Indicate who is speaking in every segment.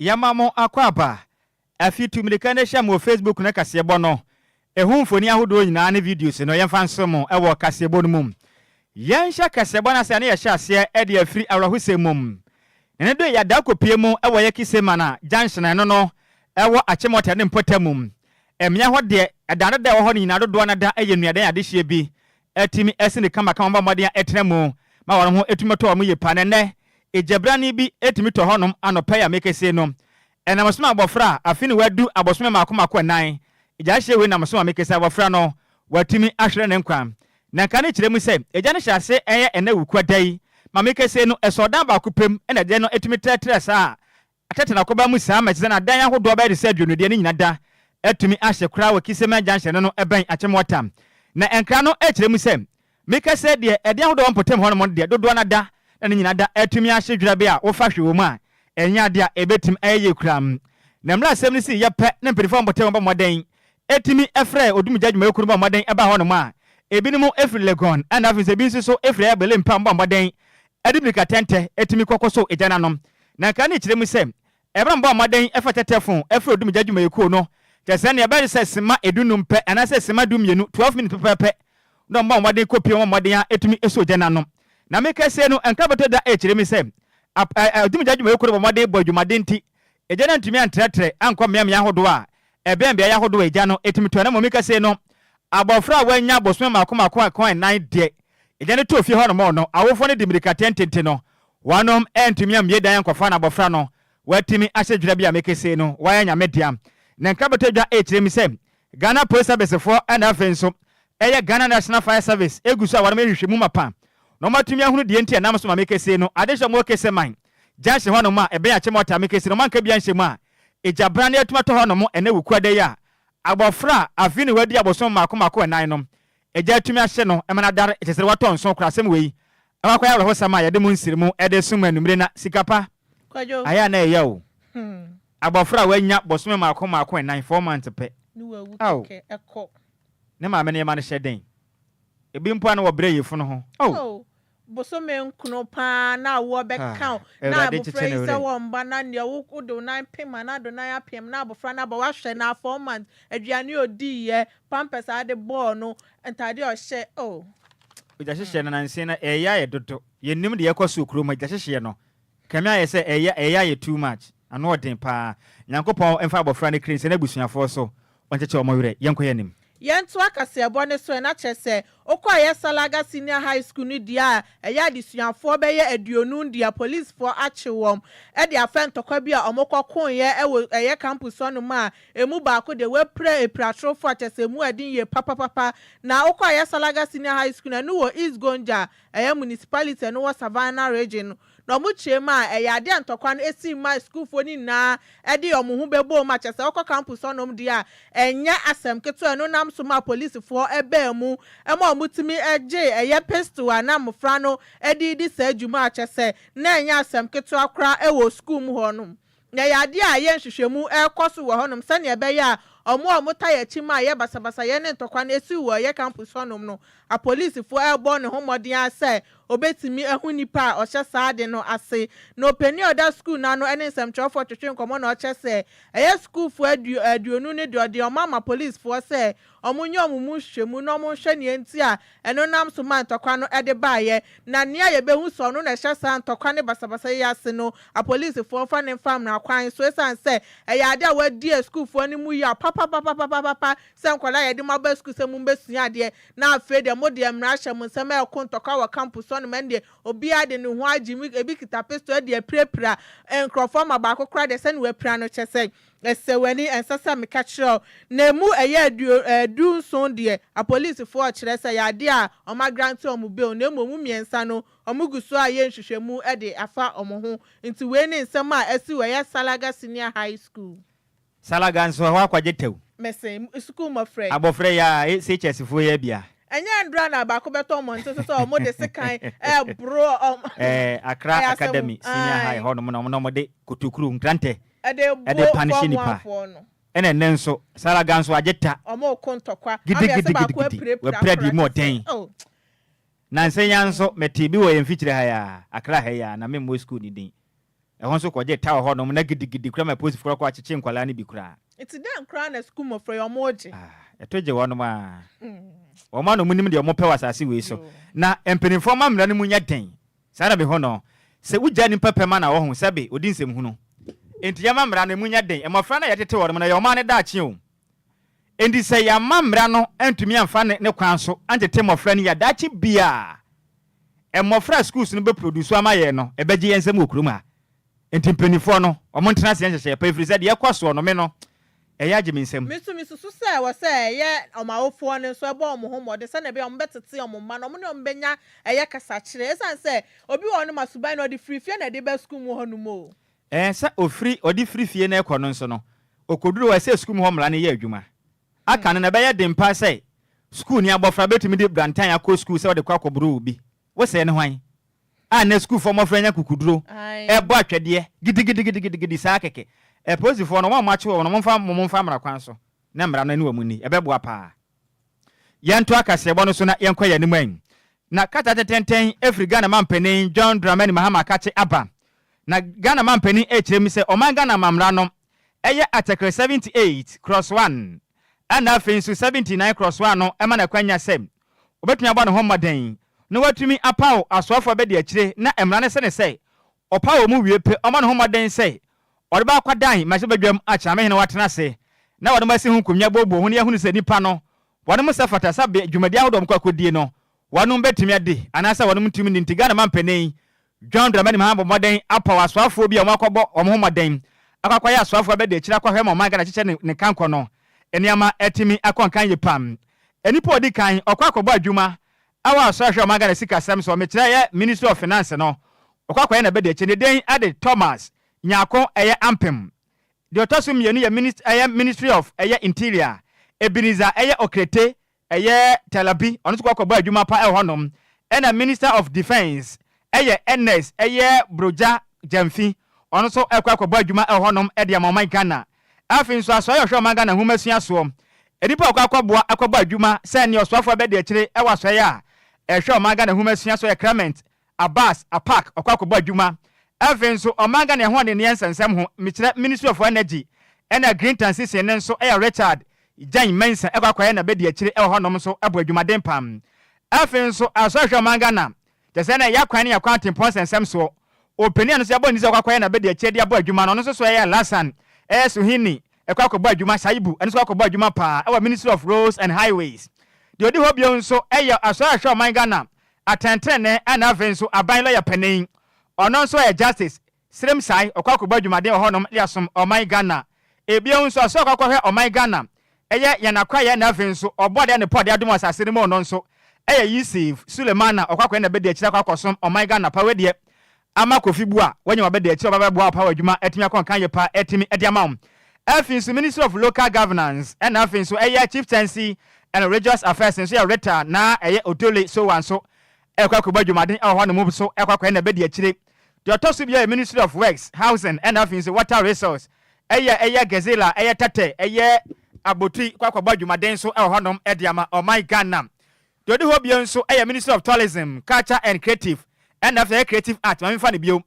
Speaker 1: Yɛma mo akwaaba, afi tu mirika no hyɛ mo wɔ Facebook no kaseɛbɔ no ɛho mfoni ahodoɔ nyinaa ne videos no yɛmfa nsom mo wɔ kaseɛbɔ no mu. Yɛnhyɛ kaseɛbɔ no aseɛ a na yɛhyɛ aseɛ de afiri awerɛhosɛm mu na ɛno de yɛada kɔpie mu wɔ yɛ Kisemana junction a ɛno no ɛwɔ Achimota ne Mpɔtam mu. Mmea hɔ deɛ ɛda no da a ɛwɔ hɔ no nyinaa dodoɔ no da yɛ nnuadan adehyeɛ bi atumi asi no kama kama bɔ mmɔden a ɛtena mu ma wɔn ho atumi atɔ wɔn yie paa. Na ɛnnɛ, egyabrane bi tumi tɔ hɔnom anɔpa yi a meka sei no. Ɛnam so ma abɔfra a afe no wadu abosome mmaako mmaako nnan. Egyaehyeɛ wei nam so ma meka sɛ abɔfra no watumi ahwere ne nkwa. Na nka ne kyerɛ mu sɛ egya no hyɛ ase yɛ ɛnna awukuada yi. Ma meka sei no, ɛsɔɔdan baako pɛ mu na egya no tumi trɛtrɛ saa Akyɛkyɛ na kɔba mu saa ma ɛte sɛ na adan ahodoɔ bɛyɛ te sɛ aduonu deɛ ne nyina da atumi ahye koraa wɔ Kissemah junction no no ɛbɛn Akyem Wata na ɛnkra no ɛkyerɛ mu sɛ meka sɛ deɛ ɛdan ahodoɔ wɔ mpɔtam hɔnom no deɛ dodoɔ no ada na ne nyina da atumi ahye dwerɛ bɛ a wofa hwe wɔ mu a ɛnyɛ adeɛ a ɛbɛtim ayɛ yie koraa na mmerɛ asɛm no sii yɛ pɛ na mpanifoɔ a wɔbɔ tɛwɛn bɔ mmɔden Etumi frɛɛ odumgya adwumayɛkuw no bɔɔ mmɔden baa hɔnom a ebinom firi Legon na afei nso ebi nso so firi Air Berlin pam bɔɔ mmɔden de mmirikatɛntɛ tumi kɔkɔsoo gya no ano. Na nka ne kyerɛ mu sɛ bere a wɔbɔɔ mmɔden fa tɛtɛfon frɛɛ odumgya adwumayɛkuw no kyerɛ sɛ nea ɛbɛyɛ sɛ simma adunnum pɛ anaasɛ simma dummienu, twelve minutes, pɛpɛɛpɛ na wɔbɔɔ mmɔden kopue wɔn mmɔden a etumi soo gya no ano. Na me kɛseyɛ no nka bɛtɔ da kyerɛ mu sɛ odumgya adwumayɛkuw no bɔ mmɔden bɔɔ adwumaden nti Egya no antumi antrɛtrɛ ankɔ mmeaemmeae ahodoɔ a ɛbɛn beaeɛ ahodoɔ a egya no tumi tɔ, na mmom me kɛse no, abɔfra a wannya abosome mmaako mmaako anka nnan deɛ, egya no too fie hɔ nom no. Awofoɔ no de mmirika tentente no, wɔnom antumi ammue dan ankɔfa no, abɔfra no, watumi ahyɛ dwira bi a me kɛse no, wayɛ Nyame dea. Ne nkrabata dwa rekyerɛ mi sɛ Ghana Post Service foɔ na afei nso ɛyɛ Ghana National Fire Service egu so a wɔnom rehwehwɛ mu mapa na wɔatumi ahunu deɛ nti a nam so ma me kɛse no adehwɛ mu ɔkɛsɛ man junction hɔ nom a ɛbɛn Akyem Ɔtaa me kesi no manka bia nhyɛ mu a egya bra ne atuma tɔ hɔ nom ɛnɛ wukuada yi a abɔfra a afi ne wadi abosom mako mako ɛnan nom egya atumi ahye no ɛma no adare ɛkyɛsɛ de watɔ nso kora asem wei ɛwɔ akɔyɛ awerɛhosɛm a yɛde mo nsiri mu ɛde som anumire na sika pa ayɛ a na
Speaker 2: ɛya o
Speaker 1: abɔfra a wanya bosome mako mako ɛnan four months pɛ ao
Speaker 2: ne maame no
Speaker 1: yɛma no hyɛ den ebi mpo a na wɔbrɛ yefunu ho oh. bosome
Speaker 2: nkron paa na awoɔ bɛka wo, na abofra yi sɛ wɔ mma na neɛ wo wode wo nan pem anaa do nan apem na abofra no aba wahwɛ no a four months, aduane a ɔdiiɛ, pampers a wode bɔɔ no, ntaadeɛ a ɔhyɛ oh.
Speaker 1: Gyahyehyeɛ no nanse no ɛɛyɛ ayɛ dodo, yɛnnim deɛ ɛkɔ soɔ kurom ha, gyahyehyeɛ no Kami ayɛ sɛ ɛyɛ ɛyɛ ayɛ too much ano ɔden paa nyankopɔn mfa abɔfra no kra nsi n'abusuafoɔ so ɔnkyɛkyɛ wɔn werɛ yɛnkɔ yɛn anim. Yɛntoa kaseɛbɔ
Speaker 2: no so ɛna kyerɛ sɛ wokɔ ɛyɛ Salaga senior high school no deɛ a ɛyɛ adesuafoɔ bɛyɛ aduonum deɛ policefoɔ akye wɔn de afɛ ntɔkwa bi a wɔn kɔ koeɛ wɔ ɛyɛ campus hɔ nom a ɛmu baako deɛ wapira apiratrofoɔ kyɛsɛ ɛmu ɛden yie papapapa na wokɔ ɛyɛ Salaga senior high school no ɛno wɔ East Gonja Ɛyɛ municipality a ɛno wɔ Savannah Region no na wɔn kyerɛ mu a ɛyɛ adeɛ a ntɔkwa no ɛsi mu a sukuufoɔ no nyinaa ɛde wɔn ho bɛbɔ mu a kyerɛ sɛ wokɔ campus hɔ nom deɛ a ɛnyɛ asɛm ketewa ɛno nam so maa polisifoɔ ɛbaa mu ɛma wɔn tumi gye ɛyɛ pistol a na mmofra no ɛde redi saa dwuma a kyerɛ sɛ na ɛnyɛ asɛm ketewa koraa ɛwɔ sukuu mu hɔ nom Na ɛyɛ adeɛ a ɛyɛ nhwehwɛmu ɛrekɔ so wɔ hɔnom sɛdeɛ ɛbɛyɛ a wɔn a wɔtaa yɛ kyima a ɛyɛ basabasayɛ ne ntɔkwa no ɛsiw wɔ ɛyɛ campus hɔnom no apolisifoɔ ɛrebɔ ne ho mmɔden ara sɛ wɔbɛtumi ahu nipa a ɔhyɛ saa ade no ase. Na ɔpanin a ɔda sukuu no ano ne nsɛmtwerɛfoɔ twetwe nkɔmmɔ na ɔkyerɛ sɛ ɛyɛ sukuufoɔ aduonu ne deɛ ɔde wɔn ama polisfoɔ sɛ Wɔnyɛ wɔn mu nhwehwɛmu na wɔnhwɛ nea enti a ɛno nam so maa ntɔkwa no de baeɛ, na nea yɛbɛhu sɛ ɔno na ɛhyɛ saa ntɔkwa ne basabasayɛ yi ase no, apolisifoɔ mfa no mfa mmara kwan so ɛsiane sɛ ɛyɛ adeɛ a wɔadi asukuufoɔ no mu yaw papapapapapapa sɛ nkwadaa a yɛde mo aba sukuu sɛ mommɛsua adeɛ na afei deɛ mo deɛ mmara hyɛ mo nsam ɛreko ntɔkwa wɔ campus hɔ nom ɛnneɛ obiara de ne ho agye mu, ebi kita pistol de apirapira nkorɔfoɔ ma baako koraa deɛ sɛnea wapira no kyɛ sɛ Ɛsɛ w'ani, ɛnsɛ sɛ meka kyerɛ wo. Na ɛmu ɛyɛ aduo, ɛɛ, du nson deɛ, apolisifoɔ kyerɛ sɛ ɛyɛ adeɛ a wɔn agrante wɔn bail, na mmom mu mmiɛnsa no, wɔn gu so ayɛ nhwehwɛmu de afa wɔn ho. Nti wei ne nsɛm a asi wɔ ɛyɛ Salaga Senior High School. Salaga nso,
Speaker 1: ɛhɔ akwagye tɛw. Mese, sukuu
Speaker 2: mmɔfra yi. Abɔfra yi a, e,
Speaker 1: SHS foɔ yi abia. Ɛnyɛ andra na
Speaker 2: baako bɛtɔ mmɔnten so sɛ wɔn de sekan ɛɛboro wɔn. Ɛɛ, Accra
Speaker 1: Academy Senior High hɔ nom na wɔn na wɔde kotokuro, nkrantɛ, ɛde buo fam afoɔ no. Ɛde panehyɛ nipa. Ɛna ɛnnɛ nso, saa ara gan nso agye ta. Wɔreko ntɔkwa.
Speaker 2: Gidigidigidi,
Speaker 1: wɔapira deɛ mu ɔden. Nnansa yi ara nso, metee bi wɔ yɛn mfikyire ha yi ara, Accra ha yi ara, na memmɔ sukuu no din. Ɛhɔ nso kɔgyee ta wɔ hɔnom, na gidigidi koraa ma apolisifoɔ no kɔ akyekyee nkwadaa no bi koraa. Nti dɛn koraa na
Speaker 2: sukuu mmɔfra yi wɔregye? Ah, ɛto
Speaker 1: gye wɔnom ara. Wɔn ara na wɔnim deɛ wɔpɛ wɔ asase wei so. Na mpanimfoɔ mma mmara no mu nyɛ den, Saa ara bhɔ no, sɛ wogya nnipa pɛ ma na wɔho sɛ be odi nsɛm hunu. Enti yɛma mmara no mu nyɛ den. Mmɔfra no a yɛtete wɔnom no yɛ ɔman no daakye o. Enti sɛ yɛamma mmara no antumi amfa ne ne kwan so antete mmɔfra no yi a, daakye biara, mmɔfra a schools no bɛprodusu ama yɛn no, ɛbɛgye yɛn nsam wɔ kurom ha. Enti mpanimfoɔ no, wɔntena aseɛ nhyehyɛɛ pa, ɛfiri sɛ deɛ ɛrekɔ soɔ no, me no, ɛyɛ agye me nsam. Me nso, mesusu sɛ ɛwɔ
Speaker 2: sɛ ɛyɛ wɔn awofoɔ no nso, ɛbɔ wɔn ho mmɔden sɛdeɛ ɛbɛyɛ a wɔbɛtete wɔn mma na wɔne wɔn bɛnya ɛyɛ kasakyerɛ, ɛsiane sɛ obi wɔ hɔ no ma suban no ɔde firi fie na ɛde ba sukuu mu hɔ nom o. Ɛɛ, sɛ ɔfiri,
Speaker 1: ɔde firi fie na ɛkɔ no nso no, ɔkɔduru hɔ a, ɛsɛ sukuu mu hɔ mmara no yɛ adwuma. Aka no no, ɛbɛyɛ den paa sɛ sukuuni abɔfra bɛtumi de brantan akɔ sukuu sɛ ɔde rekɔ akɔboro obi. Wo sɛɛ ne hwan a nnɛ sukuufoɔ mmɔfra nya kukuduro bɔ atwɛdeɛ gidigidigidigidi saa kɛkɛ. Apolisifoɔ no, wɔn a wɔakye wɔn no, momfa wɔn mfa mmara kwan so na mmara no ɛne wɔn nni. Ɛbɛboa pa ara. Yɛntoa kaseɛbɔ no so na yɛnkɔ yɛn anim anyi. Na kata tɛntɛntɛn firi Ghana Mampanin John Dramani Mahama Kakye aba. Na Ghana Mampanin rekyerɛ mu sɛ ɔman Ghana amammara no ɛyɛ Article 78 cross one ɛna afei nso 79 cross one no ɛma no akwanya sɛ Obetumi abɔ ne ho mmɔden na watumi apaw asoafo a bedi akyire na mmara no sene sɛ ɔpaw wɔn wie pɛ. Ɔmmɔ ne ho mmɔden sɛ ɔde bɛ akɔ Dan mmarahyɛ badwam akyerɛ amehene watena ase na wɔde mo asi ho nkonnwa booboo ho na yɛahunu sɛ nnipa no wɔnom sɛ fata sɛ bea dwumadi ahodoɔ a wɔkɔ akodie no wɔnom betumi adi anaasɛ wɔnom ntumi nni nti Ghana mampanin John Dramani Mahama bɔ mmɔden apaw asoafoɔ bi a wɔakɔbɔ wɔn ho mmɔden akɔ akɔyɛ asoafoɔ abɛdi akyire akɔhwɛ ma ɔman Ghana kyekyɛ ne ne kankɔ no nneɛma atumi akɔ nkan yie paa. Nnipa a ɔdi kan ɔkɔ akɔbɔ adwuma wɔ asoɛ a ɛhwɛ ɔman Ghana sikasɛm soɔ, mekyerɛ ɛyɛ Ministry of Finance no, ɔkɔ akɔyɛ n'abɛdi akyire ne din de Thomas Nyarko ɛyɛ Ampem. Deɛ ɔtɔ so mmienu yɛ Minis ɛyɛ Ministry of ɛyɛ Interior, Ebenezer ɛyɛ Okrete Ɛyɛ Tel Abi ɔno nso kɔ kɔbɔ adwuma pa wɔ hɔnom ɛna Minister of Defence ɛyɛ Ernest ɛyɛ Brogya Gyamfi ɔno nso kɔ kɔbɔ adwuma wɔ hɔnom de ama ɔman Ghana. Afei nso Asoɛe a ɔhwɛ ɔman Ghana nwoma sua soɔ nnipa a wɔkɔ kɔboa kɔbɔ adwuma sɛ nea ɔsoafoɔ bɛdi akyire wɔ Asoɛe a ɛhwɛ ɔman Ghana nwoma sua soɔ yɛ Clement Abass apack ɔkɔ akɔbɔ adwuma afei nso ɔman Ghana ɛho adenneɛ nsɛnsɛm ho mekyerɛ Ministry of Energy ɛna Green Transition no nso ɛyɛ Richard Jane Mensah ɛkɔ akɔyɛ na bɛdi akyire ɛwɔ hɔnom nso ɛbɔ adwumaden pam afei nso asɔ ahwɛ ɔman Ghana kyerɛ sɛ ɛna ɛyɛ akwan ne akwan atempɔn nsɛnsɛm soɔ ɔpanin a no nso yɛabɔ ne ti sɛ ɔkɔ akɔyɛ na bɛdi akyire de abɔ adwuma no ɔno nso so ɛyɛ Alhassan ɛyɛ Suhini ɛkɔ akɔbɔ adwuma Shaibu ɛno nso kɔ akɔbɔ adwuma paa ɛwɔ Ministry of Roads and Highways deɛ ɔdi hɔ bio nso ɛyɛ asɔ ahwɛ ɔman Ghana Atɛntrenee na afei nso aban lɔya panin, ɔno nso ɔyɛ Justice, Sirem Sae ɔkɔ akɔbɔ adwumaden wɔ hɔnom de asom ɔman Ghana. Bio nso ɔsɛ ɔkɔ akɔhwɛ ɔman Ghana, ɛyɛ yɛn akwayɛ na afei nso ɔbɔ adeɛ a Nepal de adom asase no mu no nso ɛyɛ Yusif Sulemana ɔkɔ akɔyɛ na bɛdi akyire akɔ akɔsom ɔman Ghana pa wei deɛ ama Kofi bu a wanya w'abadaakyi a ɔba bɛboa wo paa wɔ adwuma atumi akɔ nkan yɛ paa atumi de ama wo. Afei nso Ministry of Local Governance ɛna afei nso ɛyɛ Chieftaincy and Religious Affairs nso yɛ Rita na ɛyɛ Odole Sowa nso ɛkɔ akɔbɔ adwumaden ɛwɔ hɔ nom so ɛkɔ akɔyɛ n'abadi akyire. Deɛ ɔtɔ so biara yɛ Ministry of Works, Housing ɛna afei nso Water Resource ɛyɛ ɛyɛ Gezila ɛyɛ Tɛtɛ ɛyɛ Abotui kɔ akɔbɔ adwumaden nso ɛwɔ hɔ nom de ama ɔman Ghana. Deɛ ɔdi hɔ bio nso yɛ Ministry of Tourism, Culture and Creative ɛna afei ɛyɛ Creative Art, ma menfa no bio.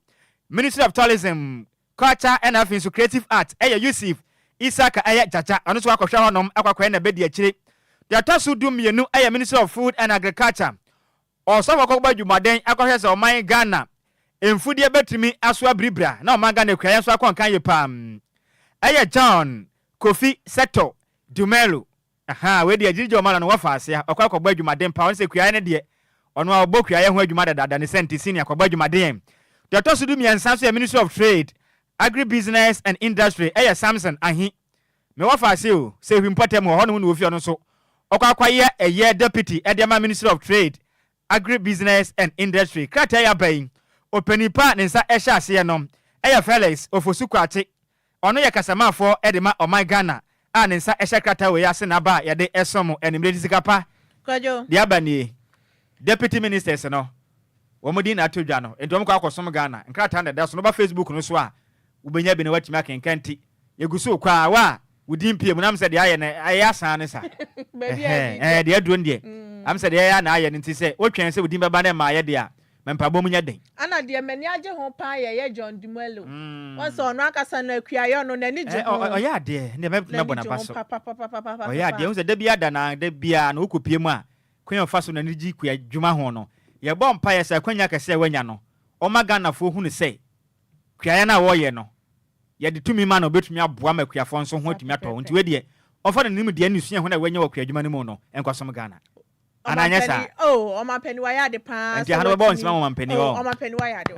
Speaker 1: Ministry of Tourism, Culture ɛna afei nso Creative Art yɛ Yusif Isaka ɛyɛ Gyagya, ɔno nso wakɔhwɛ hɔnom akɔakɔyɛ na bɛdi akyire. Deɛ ɛtɔ so du mmienu yɛ Ministry of Food and Agriculture, ɔsɔfo akɔbɔ adwumaden akɔhwɛ sɛ ɔman Ghana mfudeɛ bɛtumi aso abiribira na ɔman Ghana akuayɛ nso akɔ nkan yie paa. Ɛyɛ John Kofi Setto Dumelo. Ahaa wei deɛ gyigye ɔma no no wafa ase a ɔkɔ akɔbɔ adwumaden paa ɔno sɛ kuayɛ no deɛ ɔno a ɔbɔ kuayɛ ho adwuma dadaada ne sɛnte senior kɔbɔ adwumaden deɛ ɔtɔ so du mmiɛnsa nso yɛ ministry of trade agri business and industry ɛyɛ Samson Ahi me wafa ase o sɛ hwi mpɔtam hɔ hɔ nom na ɔfi ɔno nso ɔkɔ akɔyɛ ɛyɛ deputy ɛde ama ministry of trade Agribusiness and Industry krataa yi aba yi, ɔpanin pa a ne nsa hyɛ aseɛ no yɛ Felix Ofosu Kwakye. Ɔno yɛ kasamafɔɔ de ma ɔman Ghana a ne nsa hyɛ krataa wei ase na aba a yɛde som mo anwummerɛ de sika pa de aba
Speaker 2: nie.
Speaker 1: Deputy Ministers no, wɔn din na ato dwa no, nti wɔn kɔ akɔsom Ghana. Nkrataa na ɛda so no, woba Facebook no so a, wobɛnya bi na woatumi akenkan ti. Yɛgu so rekɔ a, wo a wo din pue mu no, am sɛ deɛ ayɛ no, ɛyɛ asaa ne sa. Ɛhɛɛ, deɛ aduro no deɛ, am sɛ deɛ ɛyɛ a na ayɛ no, nti sɛ wotwɛn sɛ wo din bɛba na ɛmmaeɛ deɛ a, ma mpaebɔ mu nyɛ den. Ana deɛ m'ani agye
Speaker 2: ho paa yɛ yɛ John Dumelo. Woahu sɛ ɔno ankasa no akuaa yɛ ɔno, n'ani gye ho. Ɛɛ, ɔyɛ adeɛ, ɛnneɛ mɛ, mɛbɔ
Speaker 1: n'aba so. N'ani gye ho papapapapapapapa. Ɔyɛ adeɛ, wohu sɛ da biara da no ara, da biara no, wokɔ pue mu a, kwan a ɔfa so n'ani gye kua dwuma ho no, yɛbɔ mpaeɛ sɛ akwanya kɛseɛ a wanya no, ɔmma Ghanafoɔ hunu sɛ, Kuayɛ no a ɔreyɛ no, yɛde tumi ma no a obetumi aboa ma akuafoɔ nso ho atumi atɔ wɔn. Nti wei deɛ, ɔmfa ne nimdeɛ ne suahu no a wanya wɔ kuadwuma no mu no nkɔsom Ghana. Anaa ɛnyɛ saa?
Speaker 2: Ɛnti aha no bɛbɔ nsɛm ama ɔmampanin
Speaker 1: hɔ.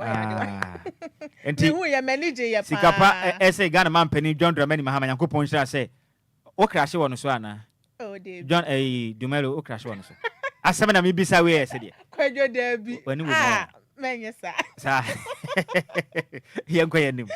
Speaker 2: Aah.
Speaker 1: Ɛnti
Speaker 2: sika pa ɛsɛ Ghana
Speaker 1: mampanin John Dramani Mahama, Nyankopɔn nhyira sɛ Wo krahye wɔ no so anaa? Oh Dabi. John
Speaker 2: ɛyi Dumelo
Speaker 1: wo krahye wɔ no so? Asɛm na me bisa wei ɛyɛ sɛdeɛ. Kwadwo Dabi
Speaker 2: ah mɛnyɛ saa. Saa
Speaker 1: yɛnkɔ yɛn anim.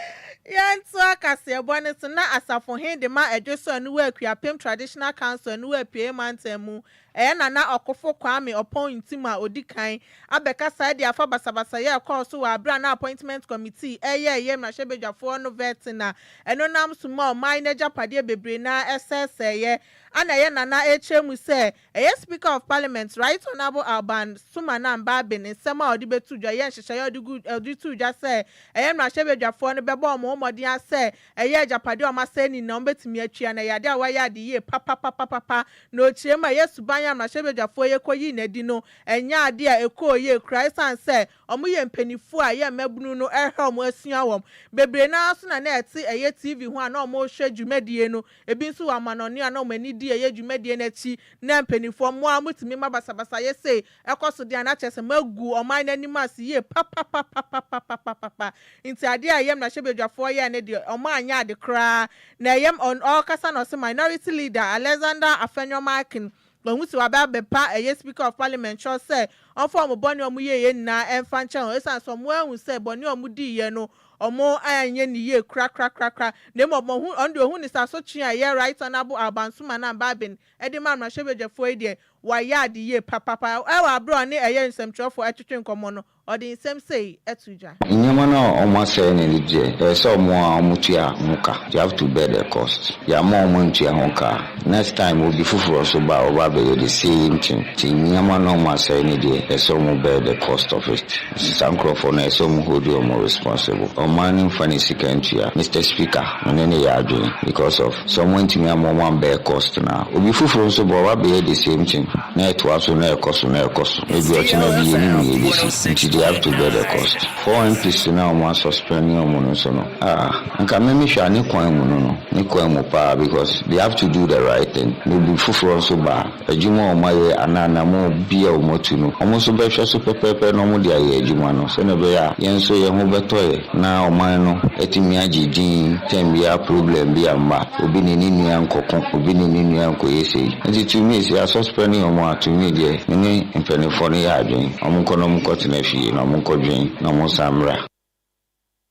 Speaker 1: Yɛntoa
Speaker 2: kaseɛbɔ no so na Asafo he de ma Adwoso Aniwa Akuapem Traditional Council Aniwa Apueɛ Mantam mu Ɛyɛ Nana Ɔkofo Kwame Ɔpɔn Ntim a odi kan abɛkasa de afa basabasayɛ a ɛkɔɔ so wɔ bere a na Appointment Committee reyɛ ɛyɛ mmarahyɛbadwafoɔ no vɛte na ɛno nam so maa ɔman no agyapadeɛ bebree no ara ɛsɛesɛeɛ a na ɛyɛ Nana rekyerɛ mu sɛ ɛyɛ Speaker of Parliament Right Honourable Alban Sumanan Baabin nsɛm a ɔde bɛto dwa yɛ nhyehyɛeɛ a ɔde too dwa sɛ ɛyɛ mmarahyɛbadwafoɔ no bɛbɔ wɔn ho mmɔden ara sɛ Ɛyɛ agyapade a wɔn asɛnni na wɔbetumi atua, na ɛyɛ ade a wɔayɛ ade yie papapapapapa. Na ɔkyerɛ mu a, ɛyɛ suban a mmarahyɛbadwafoɔ yi kɔyii no adi no nyɛ ade a ɛkɔɔ yie koraa ɛsiane sɛ wɔyɛ mpaninfoɔ a ɛyɛ mmabunu no ɛrehwɛ wɔn asua wɔn. Bebree no ara nso na na ɛte ɛyɛ TV ho a na wɔrehwɛ dwumadie no, ebi nso wɔ amanɔne a na wɔn ani di ɛyɛ dwumadie no akyi na mpaninfoɔ mo ara motumi ma basabasayɛ sei Ɛkɔ so deɛ a, na kyerɛ sɛ magu ɔman no anim ase yie papapapapapapapapa. Nti adeɛ a ɛyam na hyɛbadwafoɔ yɛɛ no deɛ, ɔmo anyɛ ade koraa. Na ɛyam ɔn ɔɔkasa na ɔse Minority Leader Alexander Afenyo-Markin, wahu sɛ waba abɛpa ɛyɛ Speaker of Parliament kyɛw sɛ ɔmfa ɔmo bɔne a ɔmo yɛeɛ nyinaa ɛmfa nkyɛ wɔn ɛsiane sɛ ɔmo anhu sɛ bɔne a ɔmo diiɛ no ɔmo anyɛ no yie korakrakrakra na mmom ɔmo ɔno deɛ ɔhu no sɛ asotwee a ɛyɛ Right Honourable Alban Suman Ambabin Ɛde ma mmarahyɛbadwafoɔ yi deɛ, wɔayɛ ade yie papaapa. Wɔ aberɛ a ɔne ɛyɛ nsɛmtwerɛfoɔ ɛtwetwe nkɔmmɔ no, ɔde nsɛm sei too dwa. Nneɛma no a
Speaker 3: wɔasɛe no de deɛ, ɛyɛ sɛ wɔn a wɔtua ho ka, they have to bear the cost. Yɛamma wɔn antua ho ka a, next time obi foforɔ nso ba a, ɔba abɛyɛ the same thing. Nti nneɛma no a wɔasɛe no deɛ, ɛsɛ sɛ wɔn bear the cost of it. Saa nkorɔfoɔ no ɛsɛ ɔmo hold ɔmo responsible. Ɔmaa no nfa ne sika ntua. Mister speaker me ne no yɛ adwen because of sɛ ɔmo antumi amma ɔmo ammɛɛ cost no a obi foforo nso bɔ ɔba bɛyɛ the same thing na ɛtoa so na ɛkɔ so na ɛkɔ so ebi ɔkyena bi yɛnim nea ɛbɛsi nti they have to bear the cost. Four MPs no a ɔmo asuspɛnne ɔmo no nso no ah anka me mehwɛ a ne kwan mu no no ne kwan mu paa because they have to do the right thing na obi foforo nso ba a Adwuma a wɔayɛ anaa anammɔn bi a wɔatu no, wɔn nso bɛhwɛ so pɛpɛɛpɛ na wɔde ayɛ adwuma no sɛnea ɛbɛyɛ a yɛn nso yɛn ho bɛtɔ yɛn na ɔman no atumi agye din tɛm biara problem bi amma obi ne ne nua nkɔko, obi ne ne nua nkɔyɛ sei. Enti to me sɛ asɔspɛne wɔn a, to me deɛ me ne mpaninfoɔ no yɛ adwene, wɔnkɔ na wɔnkɔtena fie na wɔnkɔdwene na wɔnsan mmra.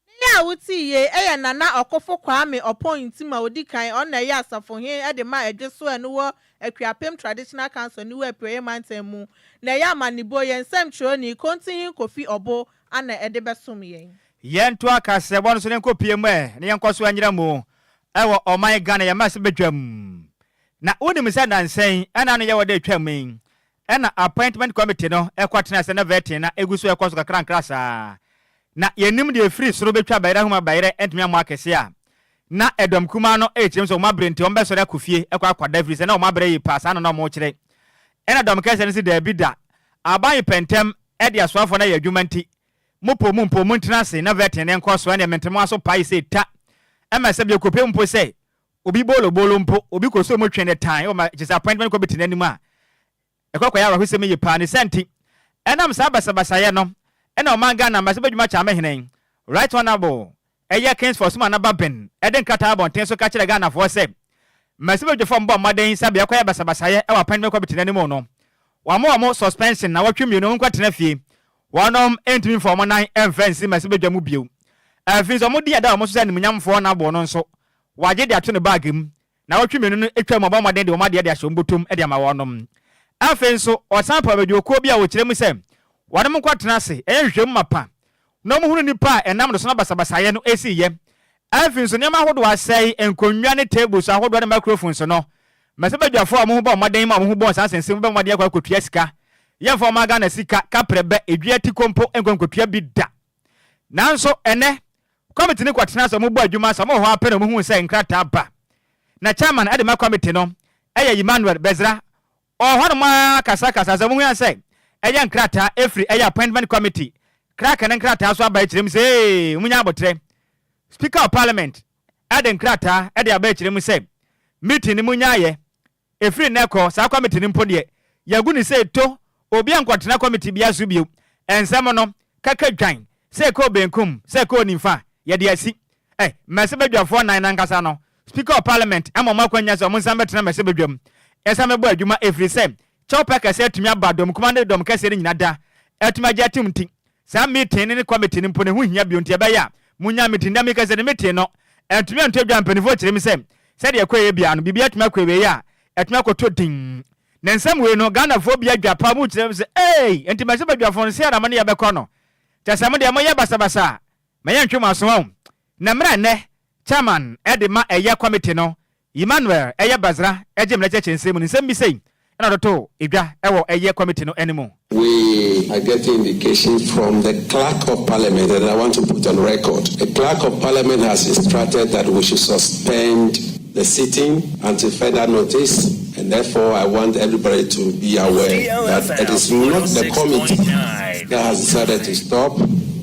Speaker 3: Nne yi
Speaker 2: a wote yi yɛ Nana Ɔkofo Kwame Ɔpɔn Ntim a odi kan, ɔno na ɛyɛ Asafohene de ma Adwesoa a ɛno wɔ Akuapem Traditional Council Aniwu Apueeɛ Mantam mu, na ɛyɛ amanebo yɛn nsɛmtwerɛni, Kontinhene Kofi Ɔbo ana ɛde bɛsom yɛn. Yɛnto akaseɛbɔ no
Speaker 1: so na yɛnkɔpue mu ɛ na yɛnkɔ so nyera mu wɔ ɔman Ghana yɛn mmarahyɛbadwam. Na wonim sɛ nnansa yi ɛna ano yɛ wɔ da a ɛtwam yi Ɛna appointment committee no kɔ tenaa ase na vetting na egu so kɔ so kakrankra saa. Na yɛnnim deɛ efiri soro betwa bayerɛ ahum a bayerɛ ntumi ammɔ akɛseɛ a. Na ɛdɔm kumaa no rekyerɛ mu sɛ wɔn abrɛ nti wɔbɛsɔre akɔ fie kɔ akɔda efiri sɛ na wɔn abrɛ yie paa saa na na wɔrekyerɛ. Ɛna dɔm kɛseɛ no se daabi da, aban yi pɛ ntɛm de asoafoɔ no ayɛ adwuma nti mo poo mu mpo montena ase na vetting no nkɔ so ɛneɛ mente mo aso pae sei ta. Ɛma ɛsɛ bio kɔpem mpo sɛ Obi boolobolo mpo, obi kɔ sɔɔ mu twe ne tan, ɔma disappointment kɔ bete n'anim a, ɛkɔ kɔyɛ awerɛhosɛm yiye paa. Ne saa nti, ɛnam saa basabasayɛ no na ɔman Ghana Mmarahyɛ Badwuma Kyame Hene, Right Honourable Ɛyɛ Kingsford Suma Nababen de nkrataa abɔnten so ka kyerɛɛ Ghanafoɔ sɛ, Mmarahyɛ Badwafo a wɔbɔ mmɔden sɛ bɛkɔyɛ basabasayɛ wɔ appointment kɔ bete n'anim no, wɔama wɔn suspension nnawɔtwe mmienu, wɔn nkɔtena fie, wɔnom ntumi mfa wɔn nan mfa nsi mmarahyɛbadwa mu bio. Afei nso, wɔn din a ɛda wɔn so sɛ animuonyamfoɔ Honourable no nso, wagye de ato ne bag mu. Naawɔtwe mmienu no twaam a ɔbɔ mmɔden de wɔn adeɛ de ahyɛ wɔn bɔtɔ mu de ama wɔnom. Afei nso, ɔsan paw adwumakuo bi a wɔkyerɛ mu sɛ wɔnom nkɔtena ase nyɛ nhwehwɛmu mapa na wɔnhunu nnipa a ɛnam dosono basabasayɛ no siiɛ. Afei nso, nneɛma ahodoɔ asɛe, nkonnwa ne tables ahodoɔ ne microphones no. Mmɛsɛ badwafoɔ a wɔn ho bɔ mmɔden ma wɔn ho bɔɔ saa nsɛnsɛm mu bɛbɔ mmɔden akɔ akɔtua sika. Yɛmfa mmaa Ghana sika kaprɛ bɛ, dua tiko mpo nkɔ nkɔtua bi da. Nanso ɛnnɛ, kɔmite no kɔtena ase, wɔbɔɔ adwuma saa, wɔwɔ hɔ ara pɛ na wɔhuu sɛ nkrataa ba. Na chairman de ma kɔmite no yɛ Emmanuel Bedzrah. Ɔwɔ hɔnom ara kasakasaa sɛ muhui sɛ ɛyɛ nkrataa ɛfiri ɛyɛ appointment committee, kraka ne nkrataa so aba akyire mu sɛ ee, monya aboterɛ. Speaker of Parliament de nkrataa de aba akyire mu sɛ meeting no monyaeɛ Ɛfiri nnɛ rekɔ, saa kɔmite no mpo deɛ, yɛagu no sɛ ɛto, obi ankɔtena kɔmite biara so bio. Nsɛm no kaka dwan, sɛ ɛkɔɔ benkum, sɛ ɛkɔɔ nimfa, yɛde asi. Ɛ, Mmese Badwafoɔ nnan no ankasa no, Speaker of Parliament ama wɔn akwanya sɛ wɔnsan mmɛtena Mmese Badwam nsan mmɛbɔ adwuma ɛfiri sɛ kyɛwpɛ kɛse atumi aba dɔmkumaa ne dɔmkɛseɛ no nyina da atumi agye atom nti, Saa meeting no ne committee no mpo no ɛho hia bio nti ɛbɛyɛ a monnya meeting nnɛ mekɛsɛ no meeting no antumi antu adwa mpaninfoɔ kyerɛ me sɛ sɛdeɛ ɛkɔeɛ biaa no biribi atumi akɔ awieɛ a atumi akɔtɔ din na nsɛm wei no Ghanafoɔ bi adwa paa mokyerɛ me sɛ eei ɛnti mɛse badwafoɔ no sei na mo ne yɛ bɛkɔ no kyɛsɛ modeɛ moyɛ basabasa a mɛyɛ ntwe mo aso wahu na mmerɛ nnɛ chairman de ma ɛyɛ committee no Emmanuel ɛyɛ Basra ɛgye mmerɛ kyerɛkyerɛ nsɛm mu no nsɛm bi sei ɛna ɔde too dwa ɛwɔ ɛyɛ committee no ɛne mu. We are
Speaker 4: getting indications from the clerk of parliament and I want to put on record, the clerk of parliament has instructed that we should suspend the sitting until further notice and therefore I want everybody to be aware that it is not the committee that has decided to stop,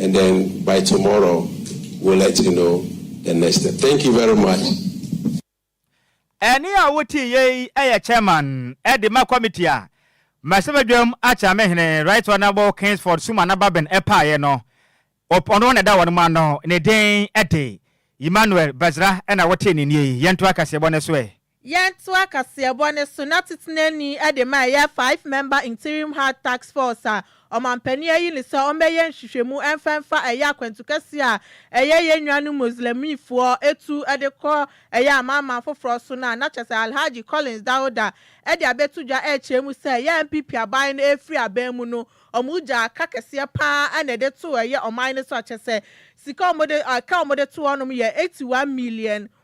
Speaker 4: and then by tomorrow we'll let you know the next step thank you very much. Ɛnne
Speaker 1: a wotiiɛ yi yɛ chairman de ma committee a Mmarahyɛbadwam Akyerame Hene Right Honourable Kingsford Suma Nababen paeɛ no. Op ɔno na ɛda wɔn mu ano, ne din de Emmanuel Badzrah na wotee ne nnie yi. Yɛntoa kaseɛbɔ no so ɛ. Yɛntoa kaseɛbɔ
Speaker 2: no so na Titenani de ma ɛyɛ Five Member Interim Hard Task Force a Ɔmanpanin ayi no sɛ ɔmmɛyɛ nhwehwɛmu mfa mfa ɛyɛ akwantu kɛseɛ a ɛyɛ yɛn nuanom Muslimifoɔ tu de kɔ ɛyɛ amanaman foforɔ so no a na kyerɛ sɛ Alhaji Collins Dauda de abɛto dwa rekyerɛ mu sɛ ɛyɛ NPP aban no refiri aban mu no wɔn gyaa ka kɛseɛ pa ara na ɛde too ɛyɛ ɔman no so a kyerɛ sɛ sika a wɔde ka a wɔde to hɔnom yɛ eighty one million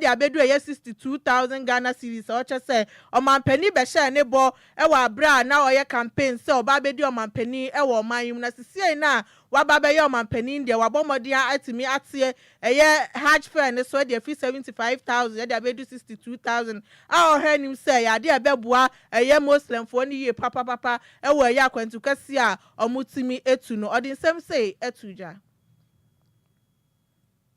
Speaker 2: de abedu ɛyɛ sixty two thousand Ghana cedis a ɔkyɛ sɛ ɔmanpanin bɛhyɛɛ ne bɔ wɔ aberɛ a na ɔyɛ campaign sɛ ɔba abɛdi ɔmanpanin wɔ ɔman yi mu na sisiei no a waba abɛyɛ ɔmanpanin deɛ wabɔ mmɔden atumi ateɛ ɛyɛ Hajj fare no so de afiri seventy five thousand de abɛdu sixty two thousand a ɔhwɛ anim sɛ ɛyɛ adeɛ a ɛbɛboa ɛyɛ Moslemfoɔ no yie papapapa wɔ ɛyɛ akwantu kɛseɛ a wɔtumi tu no. Ɔde nsɛm sei too dwa.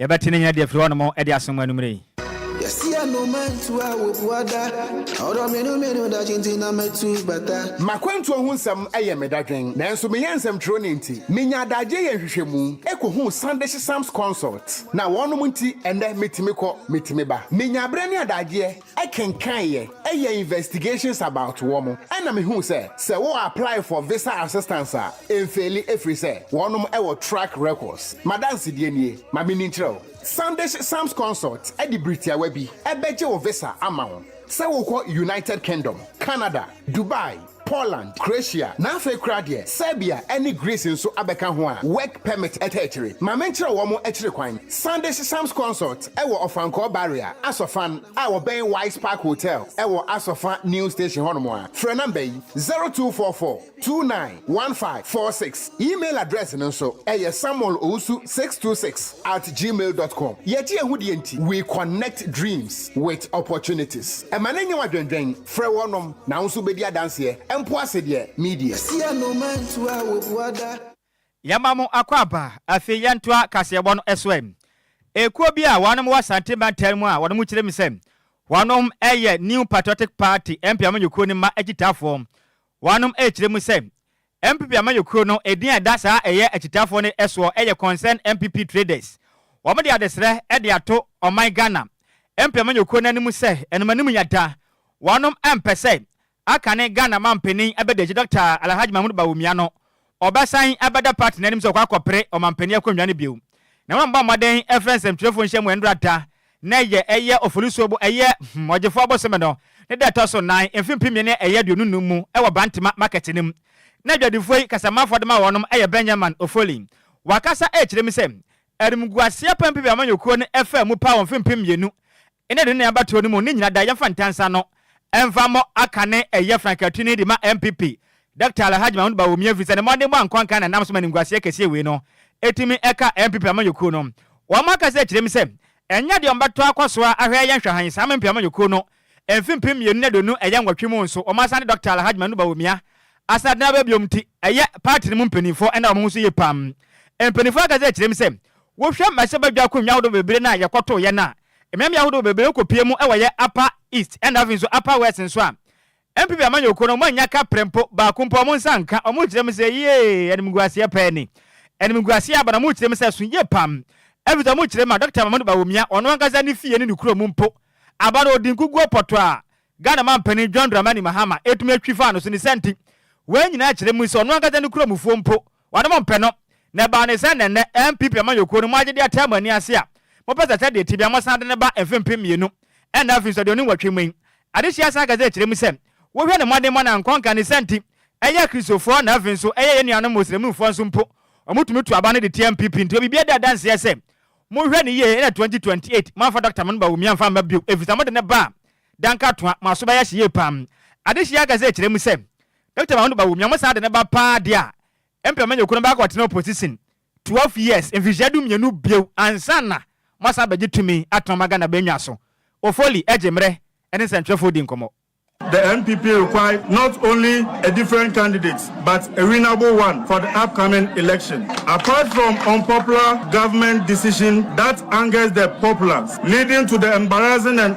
Speaker 1: Yɛbɛte ne nnyina de afiri hɔnom de asen mo anwumerɛ yi. Yɛse anoma ntu a wɔbu ada. Ɔdɔ me no me no
Speaker 5: dakye nti na matu bata. M'akwantuo ho nsɛm yɛ me dadwen nanso meyɛ nsɛmtwerɛni nti menya adagyeɛ yɛ nhwehwɛmu kɔhuu Sunday Shesam's Consult na wɔnom nti ɛnnɛ metumi kɔ, metumi ba. Menya berɛ ne adagyeɛ. kenkan yɛ yɛ investigations about wɔn ɛna me hu sɛ sɛ wo apply for visa assistance a ɛnfeeli ɛfiri sɛ wɔnom wɔ track records madansedie nie ma me ni nkyerɛ wo Sandish Sams Consult de biri tiawa bi bɛgye wo visa ama wo sɛ wokɔ United Kingdom Canada Dubai Poland, Croatia, na afei koraa deɛ Serbia ne Greece nso abɛka ho a work permit ta akyire. Ma menkyerɛ wo wɔn akyire kwan. Sande Sesams Consort wɔ Ɔfankɔɔ Barrier, Asɔfan, a wɔbɛn Wise Park Hotel wɔ Asɔfa New Station hɔnom a, frɛ number yi, zero two four four two nine one five four six. Email address no nso yɛ samuel owusu six two six at gmail dot com. Yɛgye yɛn ho deɛ nti we connect dreams with opportunities. Ɛma no nyɛ wo adwendwen. Frɛ wɔnom na wo nso bɛdi adanseɛ, ɛmpo ase deɛ meedie. Sia no ma ntu a wɔbua da.
Speaker 1: Yɛma mo akwaaba. Afei yɛntoa kaseɛbɔ no so ɛ. Ekuo bi a wɔnom wɔ Asante mantam mu a wɔnom kyerɛ mu sɛ wɔnom yɛ New Patriotic Party, NPM, ekuo no mma akyitaafoɔ. Wɔnom kyerɛ mu sɛ NPP amanyɔkuo no edin a ɛda saa ɛyɛ akyitaafoɔ no soɔ yɛ Concerned NPP Traders. Wɔn de adesrɛ de ato ɔman Ghana NPP amanyɔkuo no anim sɛ ɛnom anim yata, wɔnom mpɛ sɛ akane Ghana manpanin abɛdagyi Dɔkta Alahaj Mahmood Bawumia no ɔbɛsan abɛda party no anim sɛ ɔkɔ akɔpere ɔmanpanin akonnwa no bio. Na wɔn bɔ mmɔden frɛ nsɛmtwerɛfoɔ nhyiamu nrata Nnɛ yɛ ɛyɛ Oforisuo bo ɛyɛ hmm Ɔgyefoɔ bosome no ne da ɛtɔ so nan mfe mpem mmieni ne ɛyɛ aduonu nnum mu ɛwɔ Brantema market no mu na adwadifoɔ yi kasamanfoɔ de ma wɔnom ɛyɛ Benjaman Ofoli wakasa ɛrekyerɛ mu sɛ Animguaseɛ pɛn pɛ bi a amanyɔkuo no ɛfaa mu paa wɔ mfe mpem mmienu ne aduonu nan abatoɔ no mu ne nyina da yɛmfa ntansa no ɛmfa mmɔ aka ne ɛyɛ frankatini de ma NPP Doctor Alhaji Mahmood Bawumia efisɛ ne mmɔdenbɔ a nkɔnkan na ɛnam so ma animguaseɛ kɛseɛ wei no ɛtumi ɛka NPP amanyɔkuo no. Wɔn akasa akyire mu sɛ ɛnyɛ deɛ wɔbɛtɔ akɔ so ara ahwɛ yɛ nhwɛhan saa MNP amanyɔkuo no mfe mpem mmienu ne aduonu ɛyɛ nwɔtwe mu nso wɔn asan de Doctor Alhaji Mahmood Bawumia asan atena aba biom nti ɛyɛ party no mu mpaninfoɔ ɛna wɔn ho so yie paa. Mpaninfoɔ akasa akyire mu sɛ wohwɛ mmarahyɛbadwa akonwa ahodoɔ bebree no a yɛkɔtoo yɛn a Mmeammea ahodoɔ bebree no kɔpue mu wɔ yɛ Upper East na afei nso Upper West nso a NPP amanyɔkuo no wɔannya ka prɛmpo baako mpo a wɔn nsa anka, wɔkyerɛ mu sɛ yee animguaseɛ paa ni. Animguaseɛ aba na wɔkyerɛ mu sɛ ɛso yie pam ɛfiri sɛ wɔkyerɛ mu a Dɔkta Mamadou Bawumia, ɔno ankasa ne fie ne ne kuro mu mpo, aba no ɔdi nkuguo pɔtɔ a Ghana manpanin John Dramani Mahama ɛtumi atwi faa no so ne saa nti wɔn nyinaa kyerɛ mu sɛ ɔno ankasa ne kuromufoɔ mpo Wɔnom mpɛ no, na ɛbaa ne sɛ nnɛnnɛ NPP amanyɔkuo no moagye de ataa mo ani ase a mopɛ sɛ sɛdeɛ ɛte biara mosan de no ba mfe mpem mmienu ɛna afiri so aduonu nwɔtwe mu yi. Adesua san ka sɛ ɛkyerɛ mu sɛ wohwɛ no mmɔdenmɔ na nkɔnka ne sɛ nti ɛyɛ Akristofoɔ na afei nso ɛyɛ yɛn nuanom Muslimfoɔ nso mpo wɔtumi to aba no de tia NPP nti obibiara di adanseɛ sɛ monhwɛ no yie ɛna twenty twenty eight moamfa Doctor Mahmud Bawumia amfa amma bio ɛfiri sɛ mode no ba a dankatoa mo aso bɛyɛ hye yie paa. Adesua ka sɛ ɛkyerɛ mu sɛ Doctor Mahound Bawumia ɔmo saa de no ba paa deɛ a, mpɛ manya okunu baako a ɔtena opposition twelve years, mfirihyia du mmienu bio ansa na mo asan abɛgye tumi atɔn ma Ghana bɛnya so. Ofoli, Egye mmerɛ ne nsɛntwerɛfoɔ di nkɔmmɔ. The NPP
Speaker 6: require not only a different candidate but a winnable one for the upcoming election. Apart from unpopular government decision that angers the populace leading to the embarrassing and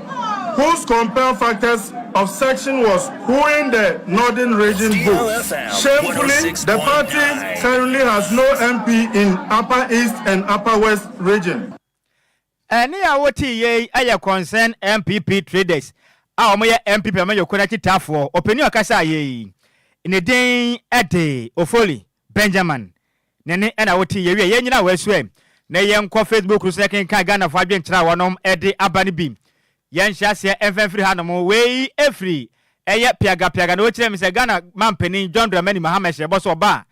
Speaker 6: whose compelled factors of section was whoing the Northern Region vote. Shamefully, the party currently has no MP in Upper East and Upper West Region. Ɛnne
Speaker 1: a wote yɛ yi yɛ Concerned NPP Traders a wɔyɛ NPP amanyɔkuo no akyitaafoɔ ɔpanin a ɔkasaeɛ yi. Ne din de Ofori Benjamin ne ne ɛna wote yɛwie yɛn nyina wɔasu ɛ na yɛn nkɔ Facebook no so na kenkan Ghana foɔ adwenkyerɛ a wɔnom de aba no bi yɛn nhyɛ aseɛ ɛmfa mfiri ha nom wei ɛfiri ɛyɛ piaga piaga na wɔkyerɛ me sɛ Ghana manpanin John Dramani Mahama hyɛ bɔ sɛ ɔba a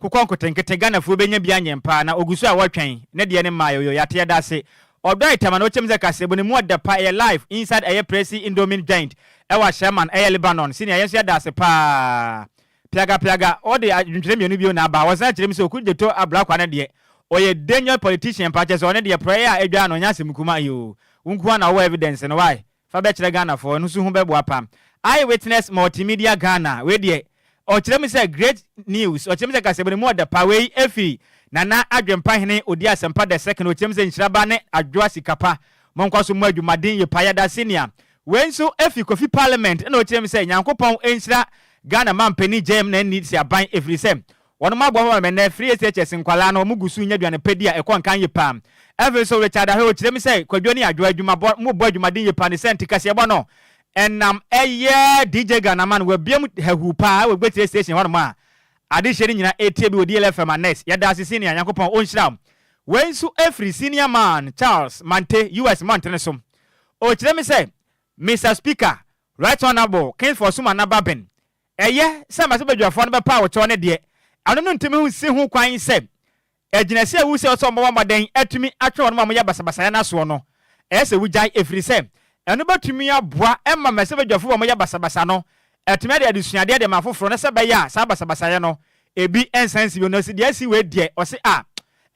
Speaker 1: kokɔ nkotenkete Ghana foɔ bɛnya bi anyɛ mpaa na ɔgu so a wɔtwɛn ne deɛ no mmaɛ oyo yɛate yɛda ase ɔdɔ itama na wɔkyerɛ me sɛ kaseɛbɔ no mu ɔdɛ pa ɛyɛ live inside ɛyɛ presi indomine joint ɛwɔ ahyɛman ɛyɛ Lebanon senior yɛn nso yɛda ase paa Piaga piaga ɔde adwentwerɛ mmienu bio na aba ɔsan kyerɛ mu sɛ Okudzeto Ablakwa no deɛ ɔyɛ danger politician paa kyerɛ sɛ ɔno deɛ prɛɛ a adwaa no ɔnyɛ asɛm kumaa yoo wo nko ara na wowɔ evidence no wai fa bɛkyerɛ Ghana foɔ ɛno nso ho bɛboa paa Eye witness multimedia Ghana wei deɛ ɔkyerɛ mu sɛ great news ɔkyerɛ mu sɛ kaseɛbɔ no mu ɔdɛ paa wei ɛfiri Nana Adwempa hene odi asɛmpa the second ɔkyerɛ mu sɛ nhyira ba ne adwoa sika pa monkɔ so mmɔ adwumaden yie paa yɛda senior Wei nso fi Kofi Parliament ɛna ɔkyerɛ mu sɛ Nyankopɔn nhyira Ghana Manpanin Gyam na nni Sraban ɛfiri sɛ wɔnom aboa ma ɛnnɛ free SHS nkwadaa no wɔn gu so nya aduane pa di a ɛkɔ nkan yie paa. Afei nso Richard Ahwɛ ɔkyerɛ mu sɛ Kwadwo ne Adwoa adwuma bɔ wɔn bɔ adwumaden yie paa ne sɛ nti kaseɛbɔ no ɛnam ɛyɛ DJ Ghanaman wabiam hahuu paa ɛwɔ Gbetie Station hɔnom a adehyeɛ no nyinaa ɛretie bi wɔ DLF FM Annex. Yɛda ase Senior Nyankopɔn ɔnhyira wo. Wei nso firi Senior Man Charles Mante US Mmɔntene so Ɔkyerɛ me sɛ, Mister Speaker, Right Honourable King Fosu Manaba Ben, ɛyɛ sɛ mmarahyɛbadwafoɔ no bɛpaw kyɛw no deɛ, ɛno no ntumi nsi ho kwan sɛ agyinasie a wosua sɛ wɔmmɔ mmɔden atumi atwe wɔnom a wɔyɛ basabasayɛ no asoɔ no, ɛyɛ sɛ wogyae ɛfiri sɛ ɛno bɛtumi aboa ma mmarahyɛbadwafoɔ a wɔyɛ basabasa no atumi ade adesuadeɛ de ama afoforɔ na sɛ ɛbɛyɛ a saa basabasayɛ no ebi nsan nsi bio. Na ɔse deɛ asi wei deɛ, ɔse a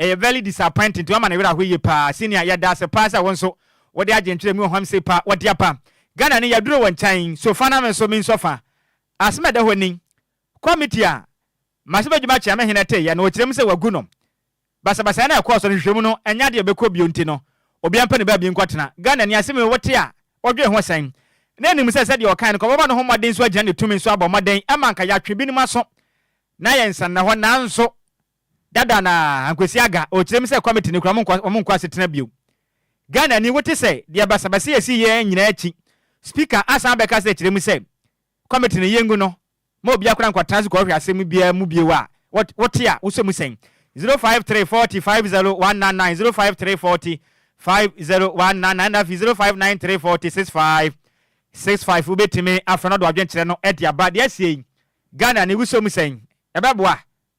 Speaker 1: Ɛyɛ very disappointing nti wama ne werɛ ahow yie paa senior yɛdaase paa sɛ wo nso wode adwentwerɛ mu ɔhomse pa wɔde aba Ghana ni yɛduru wo nkyɛn so fa na me nso me nsɔ fa asem ɛda hɔ ni committee a mase bɛdwuma kyea me hene teeyɛ no ɔkyerɛ mu sɛ wagu no basabasayɛ no a ɛkɔɔ so no nhwehwɛmu no ɛnyɛ adeɛ a ɛbɛkɔ bio nti no obia mpɛ ne baabi nkɔtena Ghana ni asem yi wote a wodwen ho sɛn na nim sɛ sɛdeɛ ɔkae no kɔbɔbɔ ne ho mmɔden nso agyina ne tumi nso abɔ mmɔden ɛma anka yɛatwe binom aso na yɛn nsa nna hɔ nanso Dada na Ankwesi Aga ɔrekyerɛ mu sɛ kɔmite no kura wɔn nkɔ wɔn nkɔ asetena bio. Ghanani wote sɛ deɛ basabasa a ɛsiiɛ nyinaa akyi Speaker asan abɛka sɛ kyerɛ mu sɛ kɔmite no yɛngu no ma obiara kora nkɔtena ase kɔhwɛ asɛm biara mu bio a wote a wosɔ mu sɛn? Zero five three forty five zero one nine nine zero five three forty five zero one nine nine na afei zero five nine three forty six five six five wobɛtumi afrɛ no de wadwenkyerɛ no de aba deɛ asie yi Ghanani wosɔ mu sɛn? Ɛbɛboa?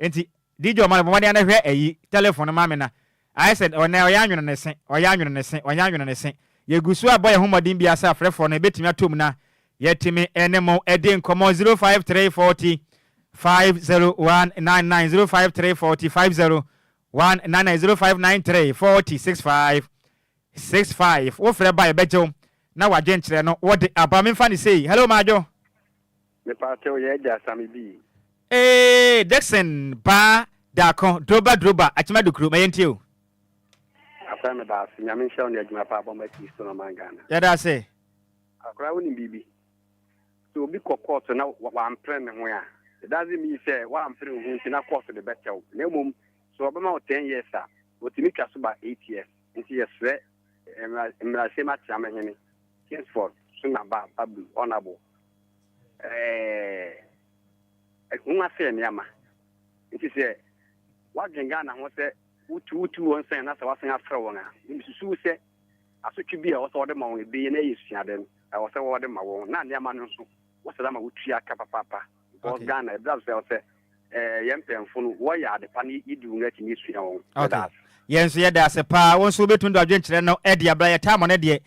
Speaker 1: Enti DJ Omah no bɔ mmɔden ara na hwɛ ayi, telephone no ma me na ayɛ sɛ ɔnnɛ ɔyɛ anwene ne se, ɔyɛ anwene ne se, ɔyɛ anwene ne se. Yɛgu so rebɔ yɛn ho mmɔden biara sɛ afrɛfoɔ no bɛtumi atɔ mu na yɛatumi ne mo adi nkɔmmɔ 053 40 50199, 053 40 50199, 0593 40 65 65. Wofrɛ ba a yɛbɛgye wo na w'adwenkyerɛ no wode aba. Memfa no sei. Hello Madwo.
Speaker 7: Mepaakyɛw yɛ agya same bi. Eeii
Speaker 1: Dickson baa daako droba droba akyema dukuru ma yɛntie o.
Speaker 7: Asae meda ase nyame nhyira wo ne adwuma pa a bɔma kristo na ɔman Ghana. Yɛda ase.
Speaker 1: Akwadaa wonim
Speaker 7: biribi? Sɛ obi kɔ kɔɔto na wampere ne ho a, it doesn't mean sɛ woampere wo ho nti na kɔɔto de bɛkyɛ wo. Na mmom sɛ wɔbɛma wo ten years a, wɔtumi twa so ba eight years. Nti yɛsrɛ Mmarahyɛm Ateam Hene Kingsford Suna Ba Babu, Honourable, ɛho asɛe nneɛma. Nti sɛ woadwen Ghana ho sɛ wotu wotu wɔn sɛn na sɛ woasan afrɛ wɔn a, mesusuw sɛ asotwe bi a ɛwɔ sɛ wɔde ma wɔn ebeye na ɛyɛ suade no, ɛwɔ sɛ wɔde ma wɔn na nneɛma no nso wɔsɛ ama wotua ka papaapa. Because Ghana, ɛbra so sɛ ɛwɔ sɛ eh, yɛn mpanyimfo no wɔyɛ ade pa na yɛdi wɔn akyi na yɛsua wɔn. Okay. Yɛn nso yɛda
Speaker 1: ase paa. Wɔn nso wobɛtumi de adwenkyerɛ no ɛde abra yɛ taamɔ no deɛ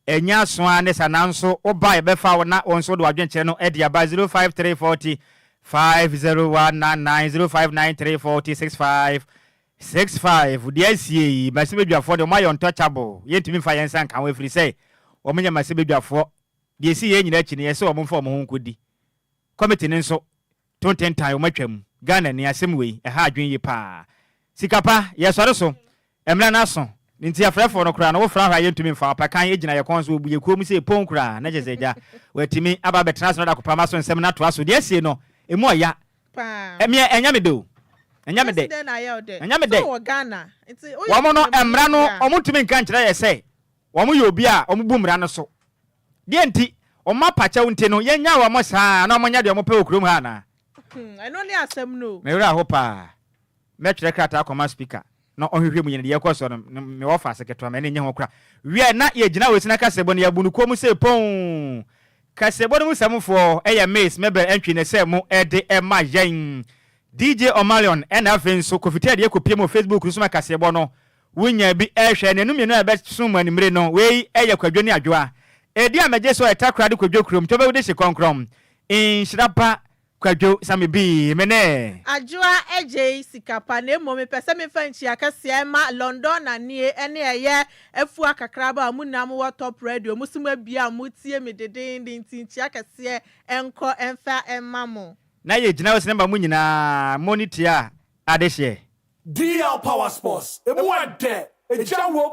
Speaker 1: Ɛnyɛ aso ara ne sa nanso woba a yɛbɛfa wo na wo nso wode w'adwenkyerɛ no de aba 05340 50199 059340 6565. Deɛ asie yi, Masibedwafoɔ deɛ wɔayɛ untouchable, yɛntumi mfa yɛn nsa nka ho ɛfiri sɛ wɔnyɛ Masibedwafoɔ. Deɛ ɛsii yei nyinaa akyi no, yɛse wɔmfa wɔn ho nkɔdi. Committee no nso, To nten tan wɔn atwam. Ghana ni asɛm wei, ɛha adwene yie paa. Sika pa, yɛsɔre so, mmra no aso, ne nti afrɛfoɔ no koraa no wofrɛ ahɔ a yɛntumi mfa, ɔpakan ɛgyina yɛ kɔn so, ɔbu yɛ kuo mu sei pon koraa, na kyerɛ sɛ agya, watumi aba abɛtena ase na ɔde akɔpam aso nsɛm no atoa so, deɛ asie no, ɛmu ɔya. Me ɛ, ɛnyɛ me dɛ o. Ɛnyɛ me dɛ. Ɛnyɛ me dɛ.
Speaker 2: Wɔn no, mmra
Speaker 1: no, wɔntumi nka nkyerɛ yɛ sɛ wɔyɛ obi a wɔbu mmra no so. Deɛ nti, wɔn apakyɛw nti no, yɛnnya wɔn saa ara na wɔnyɛ deɛ wɔpɛ wɔ kurom ha anaa? Ɛno ne
Speaker 2: asɛm no o. Me werɛ aho pa
Speaker 1: ara. Mɛtwerɛ krataa akɔma Speaker na ɔnhwehwɛ mu yɛ no deɛ ɛrekɔ soɔ no, mewɔ ɔfaase ketewa, m'ani nnye ho koraa. Wie a, na yɛgyina Wesina Kaseɛbɔ no, yɛabu no komm sei ponn. Kaseɛbɔ no mu samfoɔ yɛ Miss Mabel Antwi na ɛsɛ mo de ma yɛn. DJ Omalion ɛna afei nso Kofi Ted yɛkɔpie mu wɔ Facebook no so ma Kaseɛbɔ no Wunya bi hwɛ anianu mmienu a ɛbɛso mo anwummere no. Wei yɛ kwadwo ne adwoa. Edi a megye so a ɛtra kora de kwadwo kurom tɔ bɛwudi hye kɔnkrɔn. Nhyira pa kwadwo sa me bi. Mene. Adwoa gyei
Speaker 2: sika pa na mmom mepɛ sɛ mefa nkyia kɛseɛ ma Lɔndɔnanie ne ɛyɛ afua kakraba a mo nyinaa mo wɔ top radio mo so mo abia a mo tie me dedeenden nti nkyia kɛseɛ nkɔ mfa mma mo. Na yɛ gyina hɔ sɛ
Speaker 1: ne mma mo nyinaa mo ne tia
Speaker 8: adehyeɛ.
Speaker 1: DL
Speaker 8: Power Sports, ɛmu
Speaker 1: ɛdɛ,
Speaker 8: ɛgya wom!